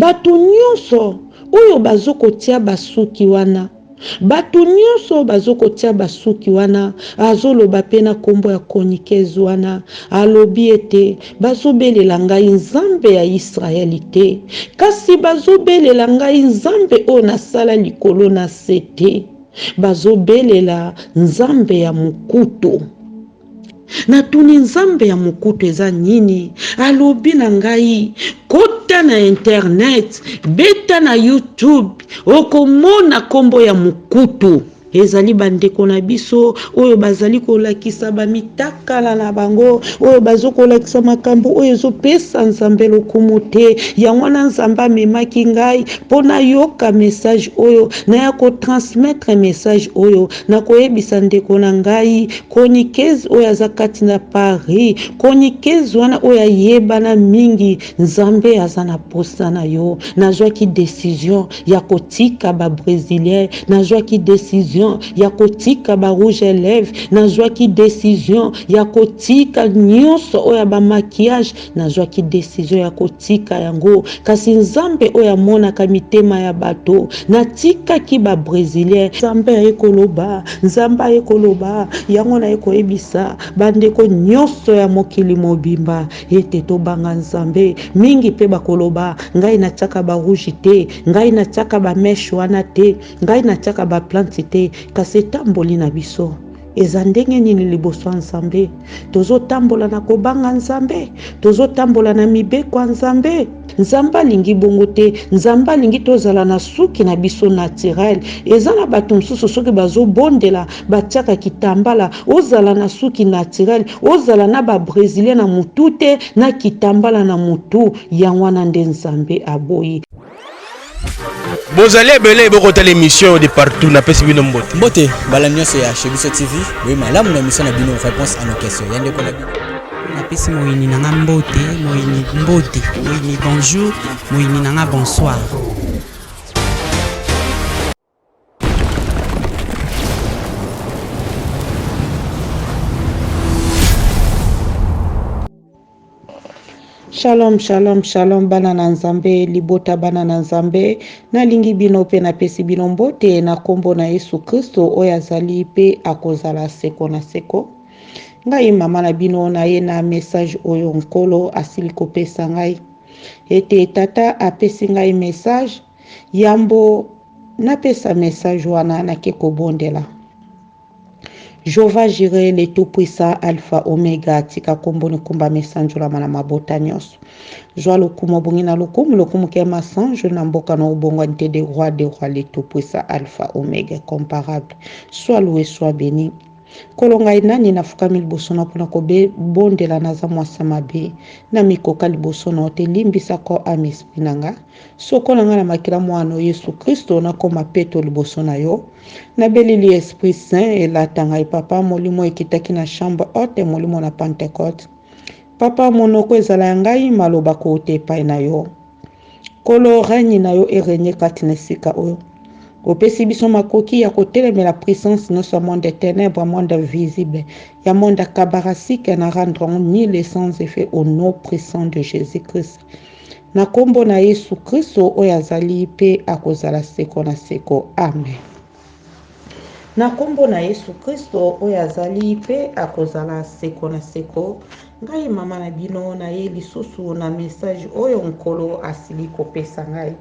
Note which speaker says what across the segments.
Speaker 1: Batu nionso oyo bazo kotia ba suki wana batu nionso oyo bazo kotia ba suki wana azo loba pe na kombo ya chroniqueuse wana alobi ete bazo belela ngai nzambe ya israel te kasi bazo belela ngai nzambe oyo na sala likolo na se te bazo belela nzambe ya mokutu Natuni nzambe ya mokutu eza nini? Alobi na ngai kota na internet, beta na youtube okomona kombo ya mokutu. Ezali bandeko na biso oyo bazali kolakisa bamitakala na bango oyo bazo kolakisa makambo oyo ezopesa nzambe lokumu te. Yango wana nzambe amemaki ngai mpo nayoka message oyo naya kotransmettre message oyo na koyebisa ndeko na ngai Chroniqueuse oyo aza kati na Paris, chroniqueuse wana oyo ayebana mingi, Nzambe aza na posa na yo. Nazwaki decision ya kotika ba bresilien, nazwaki decision ya kotika ba rouge à lèvres, nazwaki decision ya kotika nionso oyo ya ba maquillage, Nazwaki desizio ya kotika yango, kasi Nzambe oyo amonaka mitema ya bato, natikaki ba Bresilien. Nzambe aye koloba, Nzambe aye koloba, yango naye koyebisa bandeko nyonso ya mokili mobimba ete tobanga Nzambe mingi mpe bakoloba, ngai natiaka ba rouge te, ngai natiaka ba meche wana te, ngai natiaka ba plante te, kasi etamboli na biso. Eza ndenge nini liboso ya Nzambe? Tozotambola na kobanga Nzambe? Tozotambola na mibeko ya Nzambe? Nzambe alingi bongo te. Nzambe alingi tozala na suki na biso naturel. Eza na bato mosusu soki bazobondela batiaka kitambala, ozala na suki naturel, ozala na ba bresilien na mutu te, na kitambala na mutu. Yango wana nde Nzambe aboyi. bozali
Speaker 2: ebele bokotala émission de partout napesi bino mbote mbote bala nyonso
Speaker 3: ya chez biso tv boye malamu na émission na bino réponse à nos questions ya ndeko na bino napesi
Speaker 4: moyini na nga mbote moyini mbote moyini bonjour moyini na nga bonsoir
Speaker 1: Shalom, shalom, shalom bana na Nzambe, libota bana na Nzambe, nalingi bino mpe napesi bino mbote na nkombo na Yesu Kristo oyo azali mpe akozala seko na seko. Ngai mama na bino naye na message oyo Nkolo asili kopesa ngai ete tata apesi ngai message Yambo napesa message wana nake kobondela. Jehovah Jireh le tout puissant Alpha Omega tika kombo nikumbama esanjolama na mabota nyonso. Zwa lokumu obongi na lokumu lokumu ke masanjo na mboka na obongwani te de roi de roi le tout puissant Alpha Omega comparable. Sois loue sois beni. Nkolo ngai nani nafukami liboso na mpona kobondela naza mwasi ya mabe namikoka liboso na yo te limbisa corps ame esprit na nga. Sokola nga na makila mwa no Yesu Kristo nakoma peto liboso na yo Na belili Esprit Saint elata ngai Papa Molimo ekitaki na chambre haute Molimo na Pentecote Papa monoko ezala ya ngai maloba kouta epai na yo Nkolo règne na yo e regne kati na esika oyo Opesi biso makoki ya kotelemela puissance nyonso ya monde ya tenèbres, monde invisible, ya monde akabarasike na rendre ni les sans effets au nom puissant de Jésus-Christ. Na kombo na Yesu Kristo oyo azali pe akozala seko na seko. Amen. Na kombo na Yesu Kristo oyo azali pe akozala seko na seko, ngai mama na bino naye lisusu na message oyo Nkolo asili kopesa ngai.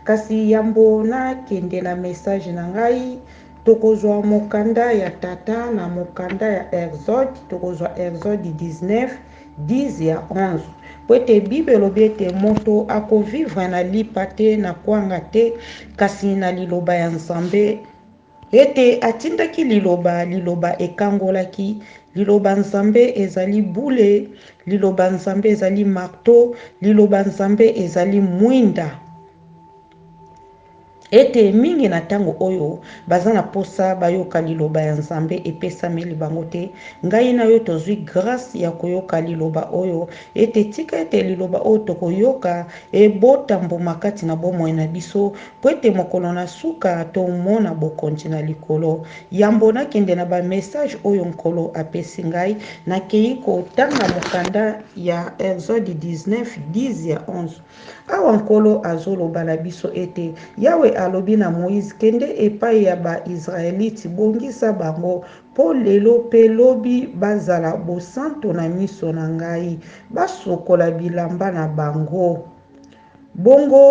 Speaker 1: Kasi yambo na kende na message na ngai, tokozwa mokanda ya Tata na mokanda ya Exode, tokozwa Exode 19, 10 ya 11 Mpo ete Bible elobi ete moto ako vivre na lipa te, na kwanga te, kasi na liloba ya Nzambe. Ete atindaki liloba, liloba ekangolaki, liloba Nzambe ezali bule, liloba Nzambe ezali marteau, liloba Nzambe ezali mwinda. Ete mingi na tango oyo baza na posa bayoka liloba ya Nzambe epesameli bango te, ngai na yo tozui grace ya koyoka liloba oyo, ete tika ete liloba oyo tokoyoka ebota mbuma kati na bomoi na biso, mpo ete mokolo na suka tomona bokonji na likolo. Yambo nakende na ba message oyo Nkolo apesi ngai, nakeyi kotanga mokanda ya Exode 19, 10 ya 11. Awa Nkolo azoloba na biso ete, Yawe alobi na Moïse, Kende epai ya ba-Israelite, bongisa bango, po lelo pe lobi bazala bosanto na miso na ngai, basokola bilamba na bango, bongo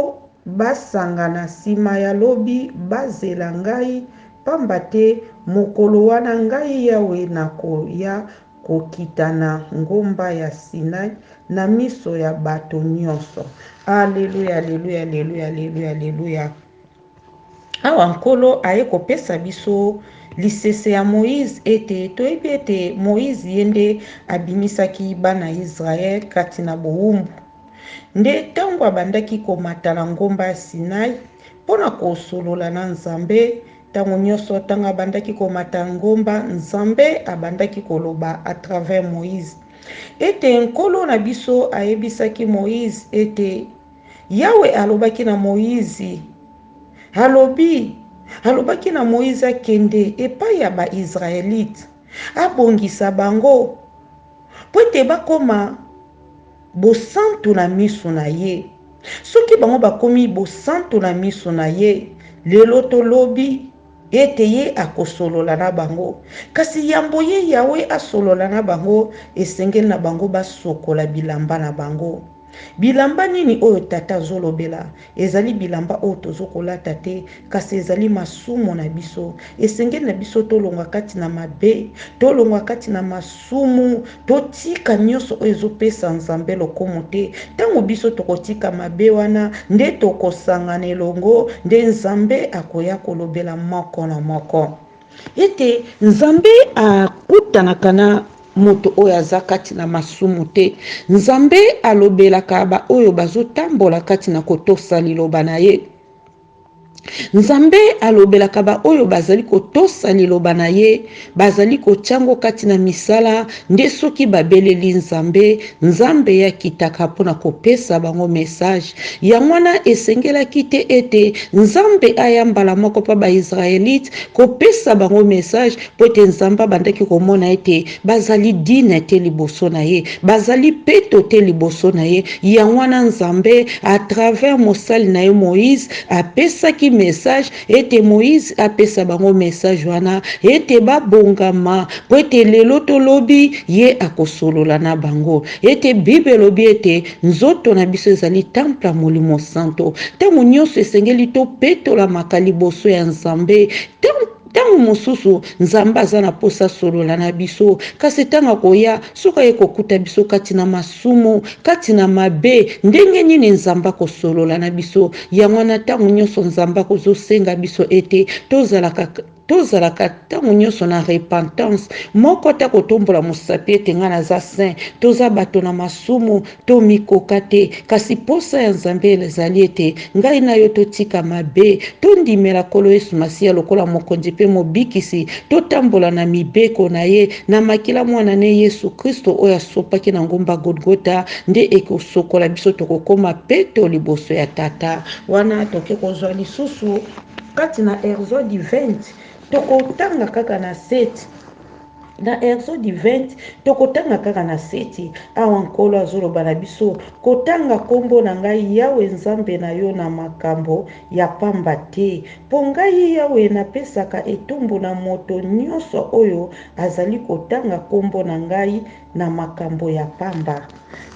Speaker 1: basangana, sima ya lobi bazela ngai, pamba te mokolo wana ngai Yawe nakoya Kokita na ngomba ya Sinai na miso ya bato nyonso. Aleluya! Aleluya! Aleluya! Aleluya! Aleluya! Awa Nkolo aye kopesa biso lisese ya Moïse ete toyebi ete Moïse ye nde abimisaki bana Israël kati na bowumbu. Nde tango abandaki komata na ngomba ya Sinai mpo na kosolola na Nzambe, Tango nioso tango abandaki komata ngomba, Nzambe abandaki koloba à travers Moïse ete Nkolo na biso ayebisaki Moïse ete Yawe alobaki na Moïse, alobi, alobaki na Moïse akende epai ya ba-Israelite, abongisa bango, mpo ete bakoma bosantu na miso na ye. Soki bango bakomi bosantu na miso na ye lelo to lobi, ete ye akosolola na bango. Kasi yambo ye Yawe asolola na bango, esengeli na bango basokola bilamba na bango. Bilamba nini oyo Tata azolobela? Ezali bilamba oyo tozo kolata te, kasi ezali masumu na biso. Esengeli na biso tolongwa kati na mabe, tolongwa kati na masumu, totika nyoso oyo ezopesa Nzambe lokomu te. Tango biso tokotika mabe wana, nde tokosangana elongo, nde Nzambe akoya kolobela moko na moko. Ete Nzambe akutanaka na moto oyo aza kati na masumu te. Nzambe alobelaka baoyo bazotambola kati na kotosa liloba na ye. Nzambe alobelaka baoyo bazali kotosa liloba na ye, bazali kotya yango kati na misala, Nde soki babeleli Nzambe, Nzambe ye akitaka mpo na kopesa bango mesaje. Yango wana, esengelaki te ete Nzambe aya mbala moko mpo Bayisraelite kopesa bango mesaje, mpo ete Nzambe abandaki komona ete bazali digne te liboso na ye, bazali peto te liboso na ye. Yango wana, Nzambe, à travers mosali na ye Moïse, apesaki mesaje ete Moize apesa bango message wana ete babongama, mpo ete lelo to lobi ye akosolola na bango, ete Bible elobi ete nzoto na biso ezali temple ya Molimo Santo, ntango nyonso esengeli topetolamaka liboso ya Nzambe, ntango ntango mosusu Nzambe aza na mposa asolola na biso, kasi ntango akoya, soki aye kokuta biso kati na masumu, lisumu, kati na mabe, ndenge nini Nzambe akosolola na biso? Yango wana, ntango nyonso Nzambe akozosenga biso ete tozalaka tozalaka ntango nyonso na repentance moko te kotombola mosapi ete ngai naza saint toza bato na masumu tomikoka te kasi mposa ya nzambe ezali ete Ngai na yo totika mabe, tondimela Nkolo Yesu Masiya lokola Mokonzi mpe Mobikisi, totambola na mibeko na Ye, na makila Mwana ne Yesu Kristo oyo asopaki na ngomba Golgotha nde ekosokola biso tokokoma peto liboso ya Tata. Wana toke kozwa lisusu kati na Erzodi 20, tokotanga kaka na 7. Na Exode 20, tokotanga kaka na seti, awa Nkolo azoloba na biso, Kotanga kombo na ngai Yawe Nzambe na yo na makambo ya pamba te, po ngai Yawe napesaka etumbu na moto nyonso oyo azali kotanga kombo na ngai na makambo ya pamba.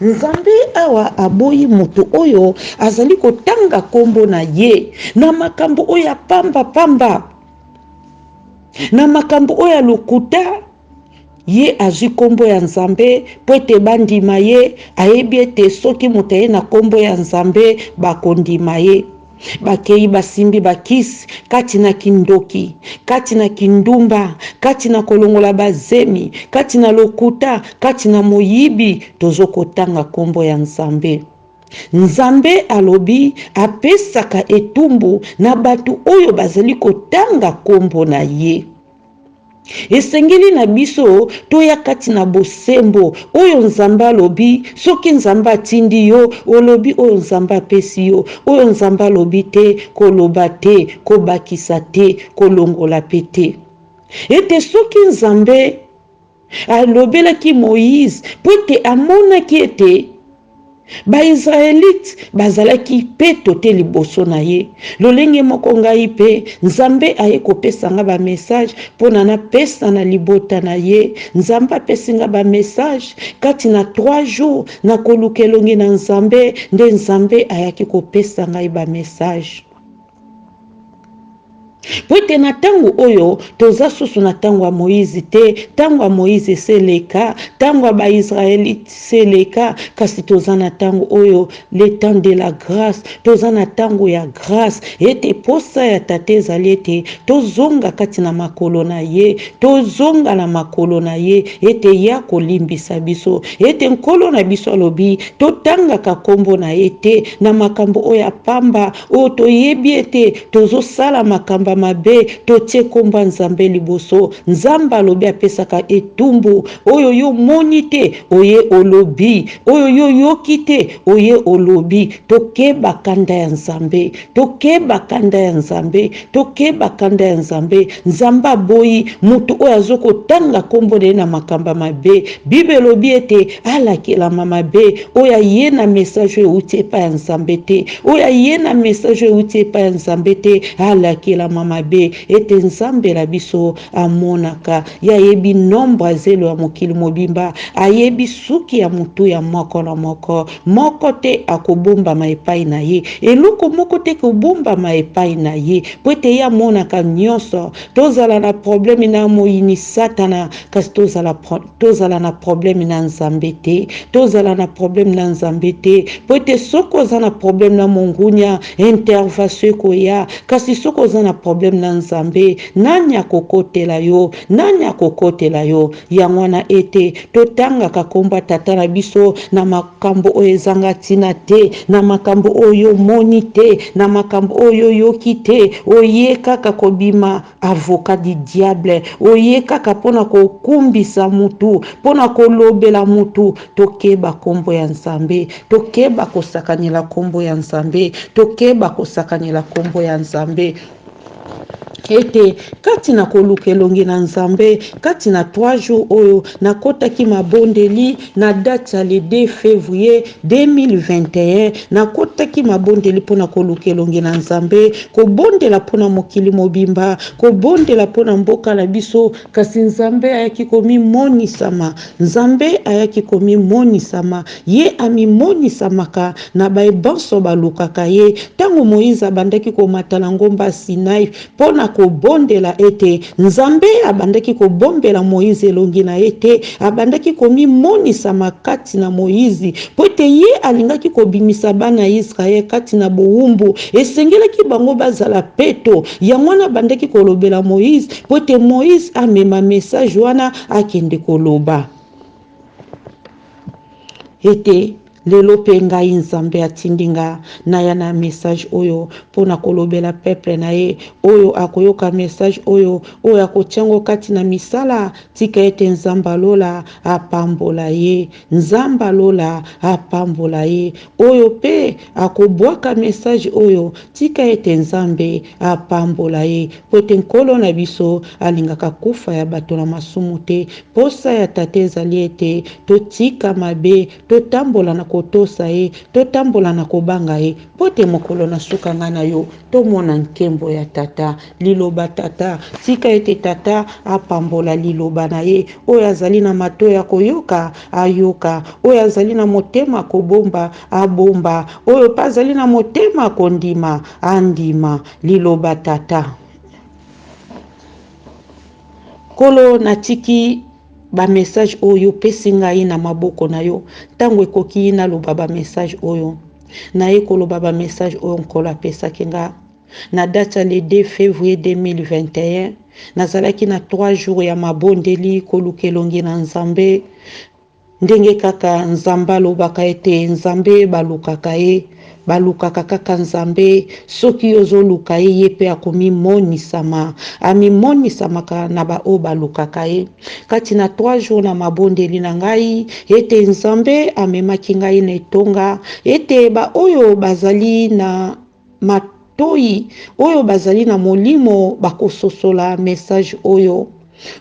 Speaker 1: Nzambe awa aboyi moto oyo azali kotanga kombo na ye na makambo oyo ya pamba pamba. na makambo oyo ya lokuta ye azwi nkombo ya nzambe mpo ete bandima ye ayebi ete soki moto aye na nkombo ya nzambe bakondima ye bakei basimbi bakisi kati na kindoki kati na kindumba kati na kolongola bazemi kati na lokuta kati na moyibi tozokotanga nkombo ya nzambe Nzambe alobi apesaka etumbu na bato oyo bazali kotanga nkombo na ye. Esengeli na biso toya kati na bosembo oyo Nzambe alobi. Soki Nzambe atindi yo, olobi oyo Nzambe apesi yo. Oyo Nzambe alobi te, koloba te, kobakisa te, kolongola mpe te. Ete soki Nzambe. Alobelaki Moize mpo ete amonaki ete Ba-Israelite bazalaki peto te liboso na ye. Lolenge moko ngai mpe, Nzambe aye kopesa nga ba message mpo na napesa na libota na ye. Nzambe apesi nga ba message, kati na trois jours na koluka elongi na Nzambe, nde Nzambe ayaki kopesa ngai ba message. mpo ete na ntango oyo toza susu na ntango ya moyize te ntango ya moyize eseleka ntango ya baisraelite seleka kasi toza na ntango oyo le temps de la grâce toza na ntango ya grâce ete mposa ya tata ezali ete tozonga kati na makolo na ye tozonga na makolo na ye ete ye akolimbisa biso ete nkolo na biso alobi totangaka nkombo na ye te na makambo oyo ya pamba Oyo toyebi ete tozo sala makamba mabe totie kombo ya nzambe liboso nzambe alobi apesaka etumbu oyo yo omoni te oye olobi oyo yo oyoki te oye olobi tokeba kanda ya nzambe tokeba kanda ya nzambe Tokeba kanda ya Nzambe. Nzambe aboyi moto oyo azo kotanga kombo na ye na makambo ya mabe. Bible elobi ete alakelama mabe oyo aye na message oyo euti epai ya Nzambe te. Oyo aye na message oyo euti epai ya Nzambe te alakelama mabe ete Nzambe na biso amonaka. Ye ayebi nombre ya zelo ya mokili mobimba, ayebi suki ya motu ya moko na moko. Moko te akobombama epai na ye, eloko moko te ekobombama epai na ye, mpo ete ye amonaka nyonso. Tozala na probleme na moyini Satana, kasi tozala, tozala na probleme na Nzambe te. Tozala na probleme na Nzambe te, mpo ete soki oza na probleme na mongunia, intervation ekoya, kasi soki oza na probleme na Nzambe, nani akokotela yo? Nani akokotela yo? Yango wana, ete totangaka nkombo ya Tata na biso na makambo oyo ezanga ntina te, na makambo oyo omoni te, na makambo oyo oyoki te, oye kaka kobima avocat du diable, oye kaka mpo na kokumbisa mutu, mpo na kolobela mutu. Tokeba nkombo ya Nzambe, tokeba kosakanela nkombo ya Nzambe, tokeba kosakanela nkombo ya Nzambe. ete kati na koluka elongi na Nzambe kati na trois jours oyo nakotaki mabondeli na date ya le 2 fevrier 2021 nakotaki mabondeli mpo na koluka elongi na Nzambe kobondela mpo na mokili mobimba kobondela mpo na mboka na biso kasi Nzambe ayaki komimonisama Nzambe ayaki komimonisama. Ye amimonisamaka na baye banso balukaka ye. Ntango Moïse abandaki komata na ngomba Sinaï mpo na kobondela ete Nzambe abandaki kobombela Moïse elongi na ye te, abandaki komimonisama kati na Moïse. Mpo ete ye alingaki kobimisa bana ya Israël kati na bowumbu, esengelaki bango bazala peto. Yango wana abandaki kolobela Moïse mpo ete Moïse amema message wana. Akende koloba ete, Lelo mpe ngai Nzambe atindi nga naya na message oyo mpo na kolobela peuple na ye. Oyo akoyoka message oyo, oyo akotia yango kati na misala, tika ete Nzambe ya lola apambola ye. Nzambe ya lola apambola ye. Oyo pe akobuaka message oyo tika ete nzambe apambola ye pwete nkolo na biso alingaka kufa ya bato na masumu te posa ya tata ezali ete totika mabe totambola na kotosa ye totambola na kobanga ye pwete mokolo na suka ngai na yo tomona nkembo ya tata Liloba Tata. Tika ete Tata apambola Liloba na Ye. Oyo azali na mato ya koyoka, ayoka. Oyo azali na motema kobomba, abomba. Oyo pe azali na motema kondima, andima. Liloba Tata. Nkolo, natiki bamesaje oyo opesi ngai na maboko na yo. Ntango ekoki naloba bamesaje oyo. Naye koloba bamesaje oyo Nkolo apesaki ngai. Na date ya le 2 fevrier 2021, nazalaki na trois jours ya mabondeli, koluka elongi na Nzambe, ndenge kaka Nzambe alobaka ete Nzambe balukaka ye, balukaka kaka Nzambe, soki yo ozoluka ye, ye pe akomimonisama, amimonisamaka na baoyo balukaka ye. Kati na trois jours na mabondeli na ngai, ete Nzambe amemaki ngai na etonga, ete baoyo bazali na. matoyi oyo bazali na molimo bakososola message oyo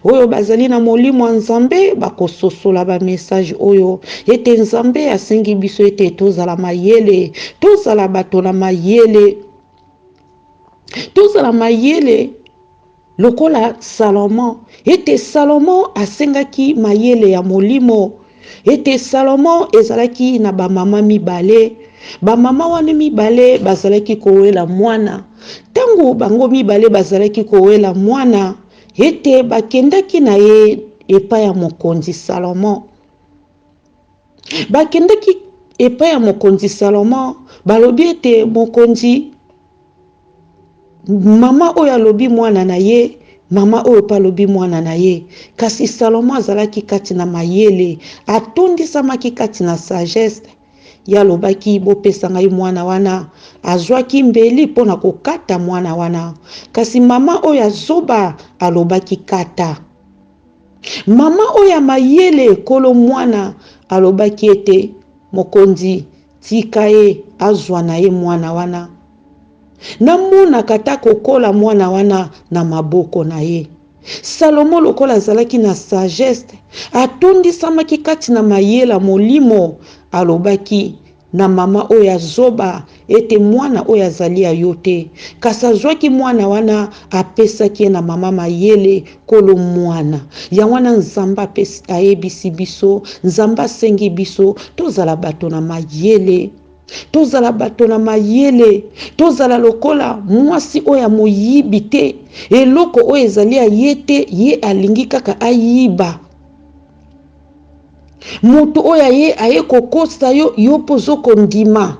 Speaker 1: oyo bazali na molimo ya nzambe bakososola bamessage oyo ete nzambe asengi biso ete tozala mayele tozala bato na mayele tozala mayele Lokola Salomon, ete Salomon asengaki mayele ya molimo, ete Salomon ezalaki na bamama mibale, bamama wana mibale bazalaki kowela mwana, ntango bango mibale bazalaki kowela mwana, ete bakendaki na ye epai ya mokonzi Salomon. Bakendeki epai ya Mokonzi Salomo, balobi ete, Mokonzi, mama oyo alobi mwana na ye, mama oyo mpe alobi mwana na ye. Kasi Salomo azalaki kati na mayele, atondisamaki kati na sagesse. Ye alobaki, Bopesa ngai mwana wana. Azwaki mbeli mpo na kokata mwana wana. Kasi mama oyo ya zoba alobaki, Kata. Mama oyo ya mayele, nkolo mwana, alobaki ete, Mokonzi, tika ye azwa na ye mwana wana. Namonaka ata kokola mwana wana na maboko na ye. Salomo, lokola azalaki na sagesse, atondisamaki kati na mayele ya molimo, alobaki, na mama oyo ya zoba ete mwana oyo azali ya yo te, kasi azwaki mwana wana apesaki ye na mama mayele kolo mwana. Yango wana Nzambe ayebisi biso, Nzambe asengi biso tozala bato na mayele tozala bato na mayele tozala lokola mwasi oyo ya moyibi te eloko oyo ezali ya ye te ye alingi kaka ayiba moto oyo aye aye kokosa yo yo mpo ozo kondima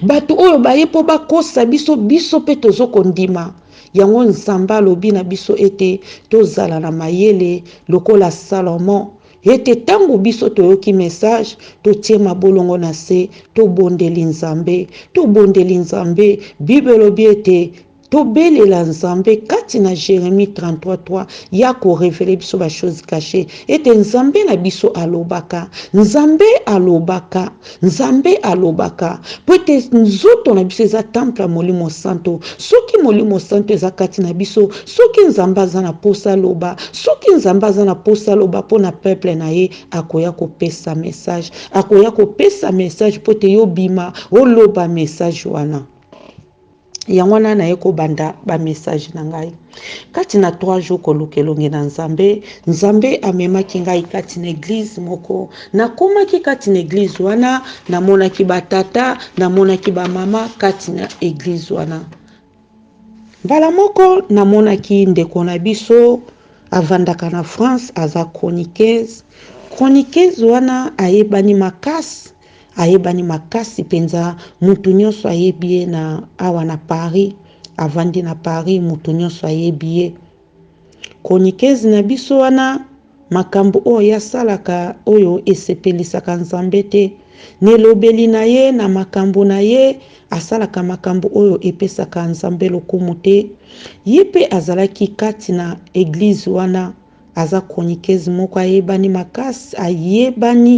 Speaker 1: bato oyo baye mpo bakosa biso biso mpe tozo kondima yango nzambe alobi na biso ete tozala na mayele lokola salomo ete ntango biso toyoki message totie mabolongo na se tobondeli nzambe tobondeli nzambe bible elobi ete Tobelela Nzambe kati na Jeremie 33:3, ye ako reveler biso ba choses cachees ete Nzambe na biso alobaka, Nzambe alobaka, Nzambe alobaka, mpo ete nzoto na biso eza temple ya Molimo Santo. Soki Molimo Santo eza kati na biso, soki Nzambe aza na posa aloba, soki Nzambe aza na posa aloba mpo na peuple na ye, akoya kopesa message, akoya kopesa message mpo ete yo obima oloba message wana. yango wana naye kobanda bamessage na ngai kati na trois jours koluka elongi na nzambe nzambe amemaki ngai kati na eglize moko nakomaki kati na eglize wana namonaki batata namonaki bamama kati na eglize wana mbala moko namonaki ndeko na biso avandaka na france aza chroniqueuse chroniqueuse wana ayebani makasi Ayebani makasi penza mutu nionso ayebi ye na awa na Paris avandi na Paris mutu nionso ayebi ye chroniqueuse na biso wana makambu oyo asalaka oyo esepelisaka Nzambe te na elobeli na ye na makambu na ye asalaka makambu oyo epesaka Nzambe lokumu te ye pe azalaki kati na eglise wana aza chroniqueuse moko ayebani makasi ayebani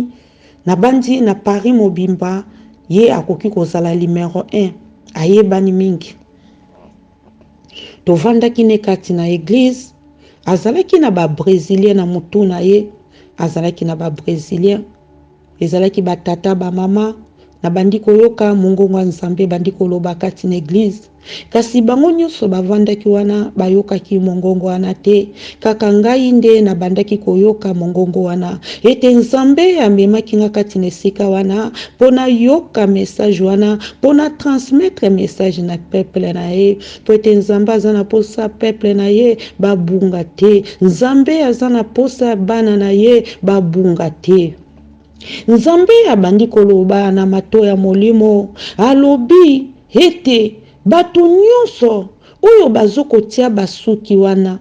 Speaker 1: Nabanzi na Paris mobimba ye akoki kozala numero un. Ayebani mingi. Tovandaki ne kati na eglise, azalaki na ba Bresilien na mutu na ye, azalaki na ba Bresilien. Ezalaki ba tata, ba mama, nabandi koyoka mongongo ya Nzambe ebandi koloba kati na eglise. Kasi bango nyonso bavandaki wana bayokaki mongongo wana te, kaka ngai nde nabandaki koyoka mongongo wana, ete Nzambe amemaki ngai kati na esika wana mpo nayoka message wana, mpo na transmettre message na peuple na ye, mpo ete Nzambe aza na posa peuple na ye babunga te, Nzambe aza na posa bana na ye babunga te. Nzambe abandi koloba na mato ya molimo, alobi ete bato nyonso oyo bazo kotia basuki wana,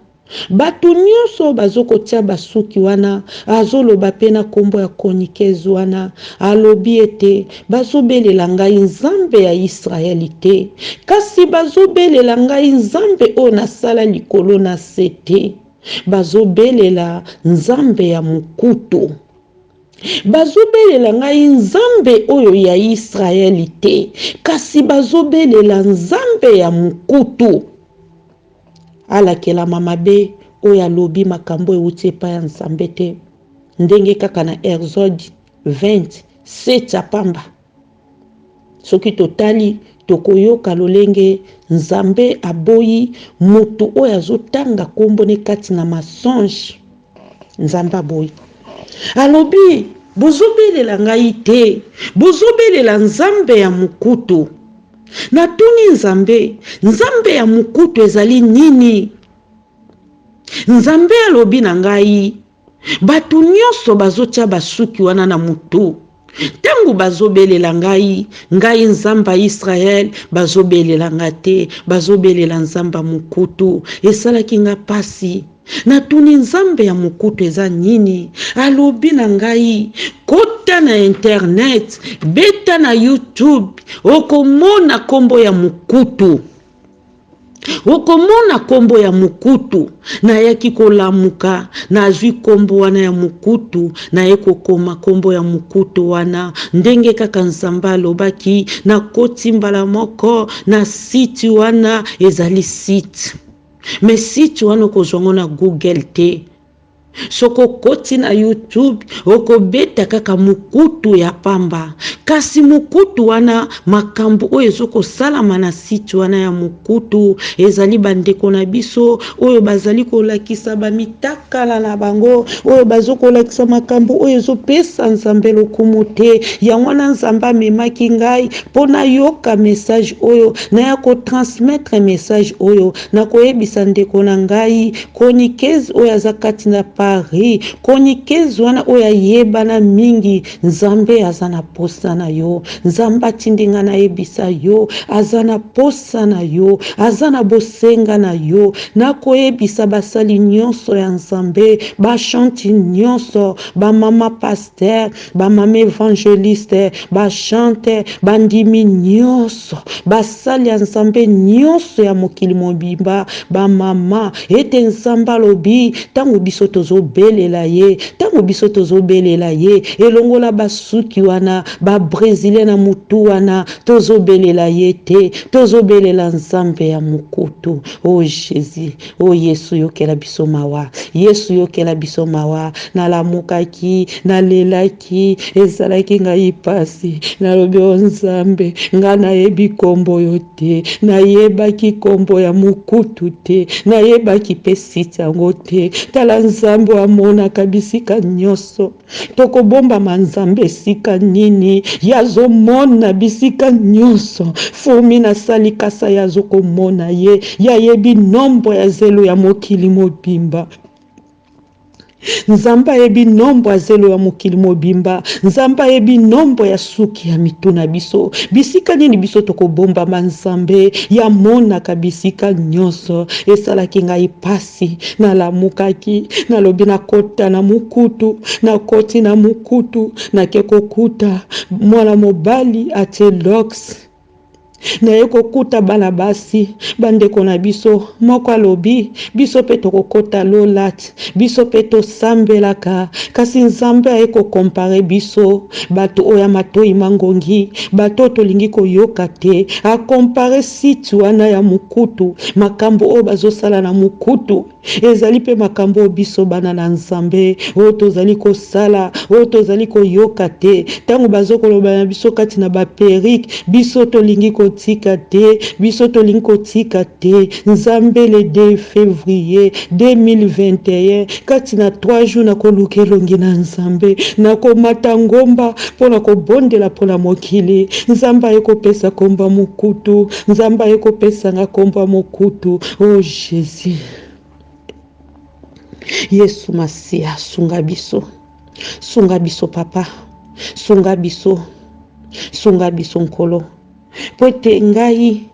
Speaker 1: bato nyonso bazo kotia basuki wana, azo loba pe na kombo ya chroniqueuse wana, alobi ete bazo belela ngai Nzambe ya Israeli te, kasi bazo belela ngai Nzambe oyo nasala likolo na se te, bazo belela Nzambe ya mokutu. Bazobelela ngai Nzambe oyo ya Yisraele te, kasi bazobelela nzambe ya mokutu. Alakelama mabe oyo alobi makambo euti epai ya Nzambe te, ndenge kaka na Exode 20, 7 ya pamba. Soki totali, tokoyoka lolenge Nzambe aboyi mutu oyo azo tanga kombo ne kati na mensonge. Nzambe aboyi. Alobi, bozo belela ngai te, bozo belela Nzambe ya mukutu. Na tuni Nzambe, Nzambe ya mukutu ezali nini? Nzambe alobi na ngai, Bato nyonso bazotya basuki wana na moto ntango bazobelela ngai, ngai Nzambe ya Yisraele, bazobelela ngai te, bazobelela Nzambe ya mokutu. Esalaki ngai mpasi. Natuni Nzambe ya mokutu eza nini? Alobi na ngai, kota na internet, beta na YouTube, okomona nkombo ya mokutu. okomona nkombo ya mokutu nayaki kolamuka nazwi nkombo wana ya mokutu naye kokoma nkombo ya mokutu wana ndenge kaka nzambe alobaki nakoti mbala moko na site wana ezali site me site wana okozwa ngo na google te Soki okoti na YouTube, okobeta kaka mukutu ya pamba. Kasi mukutu wana, makambo oyo ezo kosalama na site wana ya mukutu, ezali ba ndeko na biso oyo bazali kolakisa ba mitakala na bango, oyo bazo kolakisa makambo oyo ezo pesa Nzambe lokumu te. Yango wana Nzambe amemaki ngai po nayoka message oyo, naya ko transmettre message oyo, nakoyebisa ndeko na ngai. Chroniqueuse oyo aza kati na Paris, chroniqueuse wana oyo ayebana mingi, Nzambe aza na posa na yo, Nzambe atindi nga nayebisa yo, aza na posa na yo, aza na bosenga na yo, nakoyebisa basali nionso ya Nzambe, ba chanti nionso, ba mama pasteur, ba mama evangeliste, ba chante, bandimi nyonso, basali ya Nzambe nyonso ya mokili mobimba, ba mama, ete Nzambe alobi, ntango biso tozobelela ye, ntango biso tozobelela ye, elongo na basuki wana, ba bresilien na mutu wana, tozobelela ye te, tozobelela Nzambe ya mokutu. Oh Jesus! O Yesu yokela biso mawa, Yesu yokela biso mawa. Nalamukaki, nalelaki, ezalaki ngai mpasi. Nalobi o Nzambe, ngai nayebi nkombo yo te, nayebaki nkombo ya mokutu te, nayebaki mpe site yango te. Tala Nzambe oyo amonaka bisika nyonso. tokobombama nzambe esika nini ye azomona bisika nyonso fumi nasali kasa ye azokomona ye ye ayebi nombo ya zelo ya mokili mobimba nzambe ayebi nombo ya zelo ya mokili mobimba nzambe ayebi nombo ya suki ya mitu na biso bisika nini biso tokobombama nzambe ye amonaka bisika nyonso esalaki ngai pasi Kasi nalamukaki, nalobi nakota na mukutu, nakoti na mukutu, nake kokuta mwana mobali atie lux. Naye kokuta bana basi, bandeko na biso, moko alobi biso pe tokokota lolat, biso pe tosambelaka, kasi Nzambe aye ko compare biso, batu oyo ya matoyi mangongi, batu oyo tolingi koyoka te, a compare Site wana ya mukutu, makambo oyo bazo sala na mukutu ezali mpe makambo oyo biso bana na Nzambe oyo tozali kosala, oyo tozali koyoka te tango bazo koloba na biso kati na ba perruque, biso tolingi kotika te, biso tolingi kotika te, Nzambe le 2 fevrier 2021. Kati na trois jours nakoluka elongi na Nzambe, nakomata ngomba mpo na kobondela mpo na mokili. Nzambe aye kopesa kombo ya mokutu, Nzambe aye kopesa nga kombo ya mokutu. O Jesus, Yesu Masiya, sunga biso, sunga biso Papa, sunga biso, sunga biso Nkolo, mpo ete ngai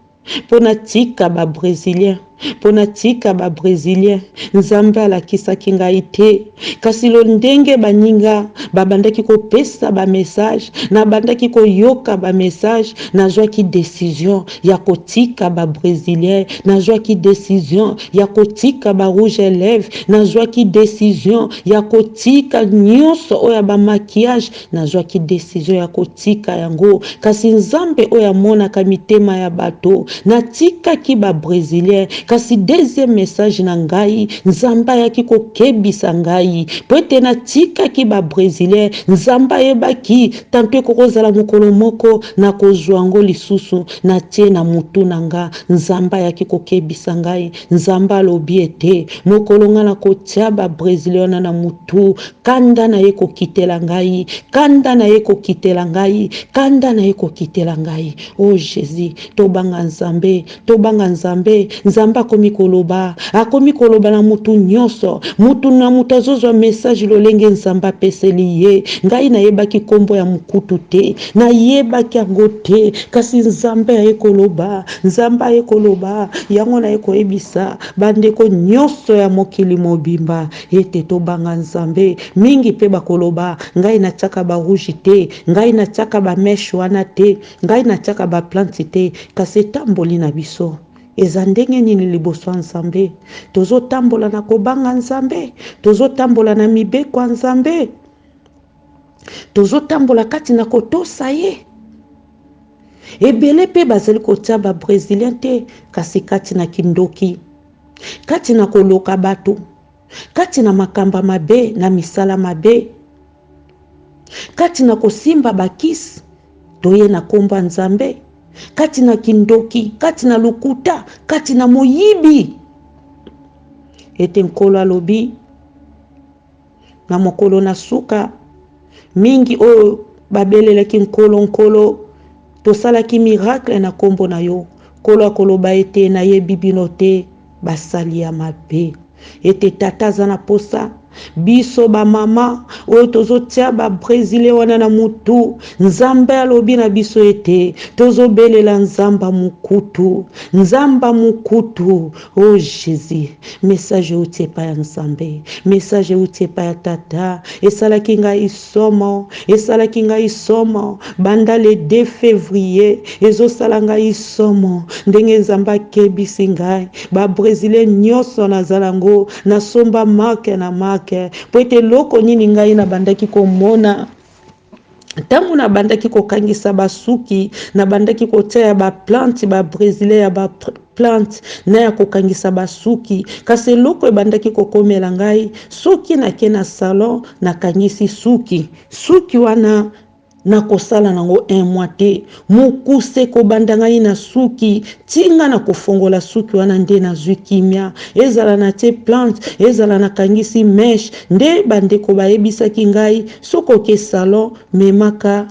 Speaker 1: mpo natika ba bresilien mpo natika ba bresilien nzambe alakisaki ngai te kasi lo ndenge baninga babandaki kopesa bamessage nabandaki koyoka bamessage nazwaki decision ya kotika ba bresilien nazwaki decision ya kotika ba rouge eleve nazwaki decision ya kotika nyonso oyo ya bamaquillage Nazwaki desizio ya kotika yango, kasi Nzambe oyo amonaka mitema ya bato, natikaki ba bresilien, kasi deuxième message na ngai, Nzambe ayaki kokebisa ngai, mpo ete natikaki ba bresilien, Nzambe ayebaki, tant pis ekoki kozala mokolo moko nakozwa yango lisusu, natie na mutu na nga, Nzambe ayaki kokebisa ngai, Nzambe alobi ete mokolo nga nakotia ba bresilien wana na mutu, kanda na ye kokitela ngai kanda na ye kokitela ngai kanda na ye kokitela ngai o oh, jésus tobanga nzambe tobanga nzambe nzambe akomi koloba akomi koloba na motu nyonso motu na motu azozwa message lolenge nzambe apeseli ye ngai nayebaki nkombo ya mokutu te nayebaki yango te kasi nzambe aye koloba nzambe aye koloba yango naye koyebisa bandeko nyonso ya mokili mobimba Ete tobanga Nzambe mingi mpe bakoloba, Ngai natiaka ba rouge te, ngai natiaka ba meche wana te, ngai natiaka ba plante te, kasi etamboli na biso eza ndenge nini liboso ya Nzambe? Tozotambola na kobanga Nzambe? Tozotambola na mibeko ya Nzambe? Tozotambola kati na kotosa ye? Ebele mpe bazali kotia ba bresilien te, kasi kati na kindoki. kati na koloka bato, kati na makamba mabe, na misala mabe, kati na kosimba bakisi toye na nkombo ya Nzambe, kati na kindoki, kati na lokuta, kati na moyibi, ete Nkolo alobi Na mokolo na suka, mingi oyo babelelaki Nkolo, Nkolo, tosalaki miracle na kombo na yo. Nkolo akoloba ete, nayebi bino te, basali ya mabe. Ete tata aza na posa, biso ba mama oyo tozotia ba brezile wana na mutu, Nzambe alobi na biso ete tozobelela Nzamba mukutu, Nzamba mukutu. Oh Jesus message ewuti epai ya Nzambe message ewuti epai ya tata esalaki ngai somo esalaki ngai somo banda le 2 fevrier ezosala ngai somo ndenge Nzambe akebisi ngai ba brésilien nyonso nazala ngo nasomba marke na marke mpo ete eloko nini ngai nabandaki komona ntango nabandaki kokangisa basuki nabandaki kotia ya baplante babrezilien ya ba plante na ya kokangisa basuki kasi eloko ebandaki kokomela ngai soki nake na salon nakangisi suki suki wana nakosala nango un mois te Mokuse kobanda ngai na suki ti nga na kofongola suki wana nde nazui kimia ezala na tie plante ezala na kangisi meche nde ba ndeko bayebisaki ngai soki oke salon memaka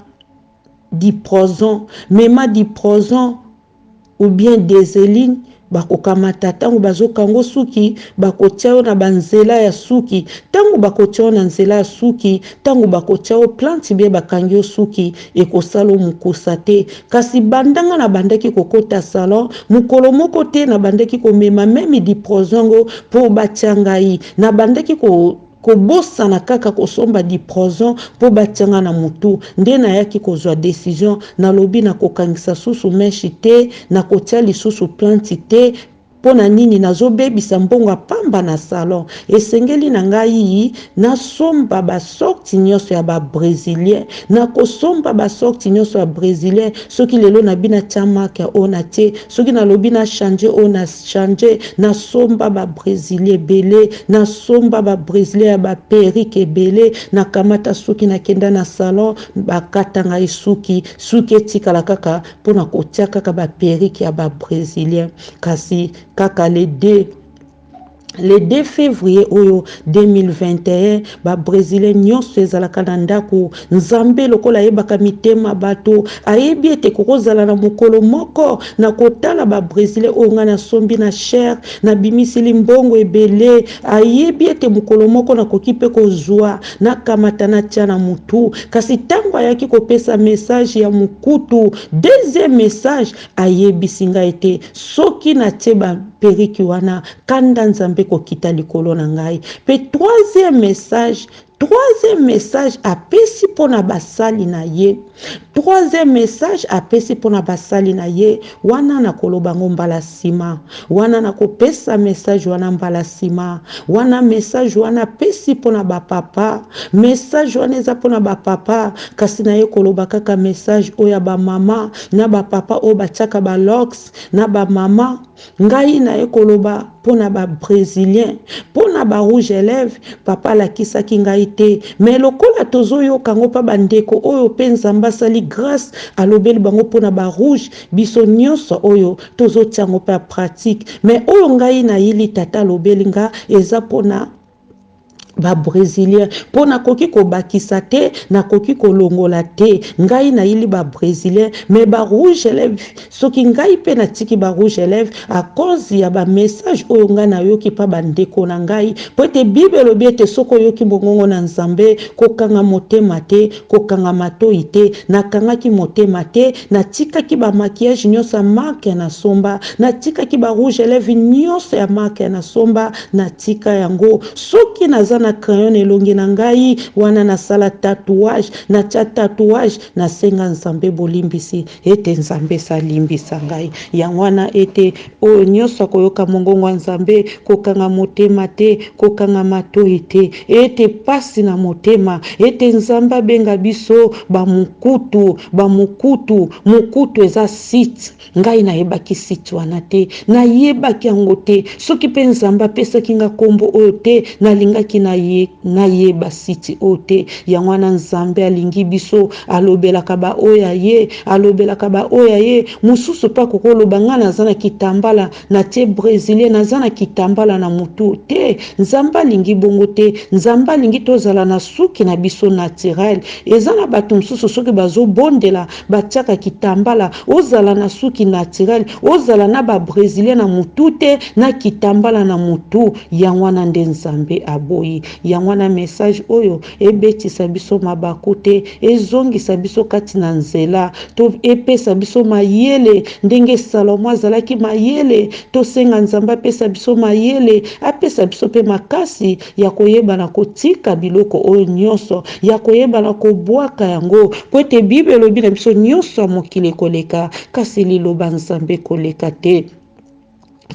Speaker 1: diprozon mema diprozon ou bien deseline bakokamata tango bazokango suki bakotia yo na ba nzela ya suki tango bakotia yo na nzela ya suki tango bakotia yo plante bien bakangi yo suki ekosala yo mukusa te kasi banda nga nabandaki kokota salon mukolo moko te nabandaki komema meme diproson ngo po batia ngai nabandaki ko Kobosana kaka kosomba diprozon po batia nga na mutu nde nayaki kozua decision nalobi nakokangisa susu mèche te nakotia lisusu plante te pona nini nazobebisa mbongo ya pamba na salon esengeli na ngai nasomba ba sorte nioso ya ba bresilien nakosomba ba sorte nioso ya bresilien soki lelo nabi natia marque oyo natie Soki nalobi na changer oyo na changer, nasomba ba brezilia ebele, nasomba ba brezilia ya ba perruque ebele, nakamata suki nakenda na salon bakata ngai suki, suki etikala kaka mpo na kotia kaka ba perruque ya ba brezilia. Kasi kaka le deux. Le 2 fevrier oyo 2021 ba bresilien nyonso ezalaka na ndako. Nzambe lokola ayebaka mitema bato, ayebi ete kokozala na mokolo moko na kotala ba bresilien oyo ngai nasombi na cher, nabimisili mbongo ebele. Ayebi ete mokolo moko nakoki pe kozua, nakamata natia na mutu. Kasi tango ayaki kopesa message ya mukutu, deuxième message, Ayebisi ngai ete soki natie ba perruque wana kanda Nzambe ekokita likolo na ngai. Pe troisième message, troisième message apesi mpo na basali na ye, troisième message apesi mpo na basali na ye, wana nakoloba yango mbala sima, wana nakopesa message wana mbala sima, wana message wana apesi mpo na ba papa, message wana eza mpo na ba papa, kasi naye koloba kaka message oyo ya ba mama. na ba papa oyo batiaka ba locks na ba mama ngai naye koloba mpo na ba bresilien mpo na ba rouge elève papa alakisaki ngai te mais lokola tozoyoka ngo mpa bandeko oyo mpe nzambe asali grace alobeli bango mpo na ba rouge biso nyonso oyo tozotia ngo mpe a pratique mais oyo ngai nayili tata alobeli nga eza mpo na ba bresilien mpo nakoki kobakisa te nakoki kolongola te ngai nayili ba bresilien me ba rouge eleve soki ngai mpe natiki ba rouge eleve a cause ya ba message oyo ngai nayoki mpa bandeko na ngai mpo ete bible elobi ete soki oyoki mongongo na nzambe kokanga motema te kokanga matoi te nakangaki motema te natikaki ba maquillage nyonso ya marque ya nasomba natikaki ba rouge eleve nyonso ya marque ya nasomba Natika yango soki naza na crayon na elongi na ngai wana nasala tatouage natya tatouage nasenga Nzambe bolimbisi ete Nzambe esi alimbisa ngai yango wana ete oyo nyonso akoyoka mongongo ya Nzambe kokanga motema te kokanga matoi te ete pasi na motema ete Nzambe abenga biso bamukutu bamukutu mukutu eza site Ngai nayebaki site wana te, nayebaki yango te. Soki mpe Nzambe apesaki nga nkombo oyo te, nalingaki naye, nayeba site oyo te. Yango wana Nzambe alingi biso, alobelaka ba oyo ya ye, alobelaka ba oyo ya ye. Mosusu mpe akoki oloba nga naza na kitambala, natie bresilien, naza na kitambala na mutu. Te, Nzambe alingi bongo te. Nzambe alingi tozala na suki na biso naturel. Eza na batu mosusu soki bazo bondela, batiaka kitambala ozala na suki naturel ozala na ba bresilien na mutu te na kitambala na mutu yango wana nde nzambe aboyi yango wana message oyo ebetisa biso mabaku te ezongisa biso kati na nzela to epesa biso mayele ndenge salomo azalaki mayele tosenga nzambe apesa biso mayele apesa biso mpe makasi ya koyebana kotika biloko oyo nyonso, ya koyebana kobwaka yango, mpo ete Bible elobi na biso nyonso ya mokili ekoleka, kasi liloba Nzambe ekoleka te.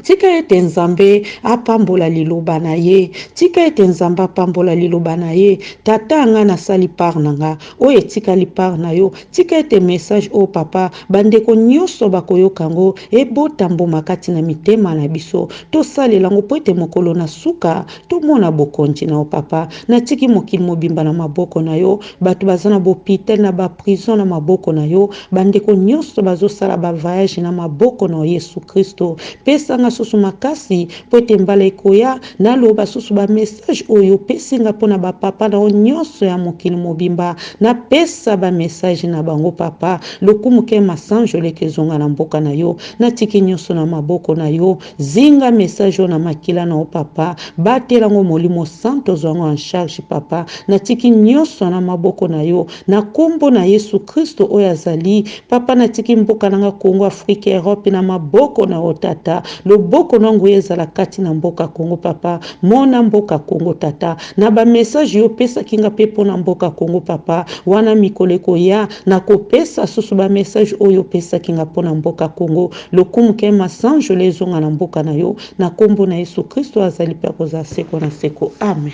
Speaker 1: Tika ete Nzambe apambola liloba na ye. Tika ete Nzambe apambola liloba na ye. Tata nga nasali part na nga. Oyo etikali part na yo. Tika ete message oyo papa, ba ndeko nyoso bakoyoka yango, ebota mbuma kati na mitema na biso. Tosalela yango mpo ete mokolo na suka, tomona bokonji na yo papa. Natiki mokili mobimba na maboko na yo, bato baza na b'hopital, na ba prison na maboko na yo, ba ndeko nyoso bazo sala ba vayage na maboko na yo Yesu Kristo. Pesa nga susu makasi mpo ete mbala ekoya, Naloba susu ba message oyo opesi nga pona ba papa na yo nionso ya mokili mobimba napesa ba message na bango papa lokumu ken masanjole ke zonga na mboka na yo natiki nionso na maboko na yo zinga message oyo na makila na yo papa batela ngo molimo santo zua ngo en charge papa natiki nionso na maboko na yo Na kombo na yesu christo oyo azali papa na tiki mboka nanga congo afrique europe na maboko na yo tata loboko na nguya ezala kati na mboka congo papa mona mboka congo tata na ba message yo pesa kinga pe pona mboka congo papa wana mikolo ekoya na kopesa susu ba message oyo pesa kinga pona mboka congo lokumu ke masanjole ezonga na mboka na yo na kombo na yesu christo azali pe akozala seko na seko amen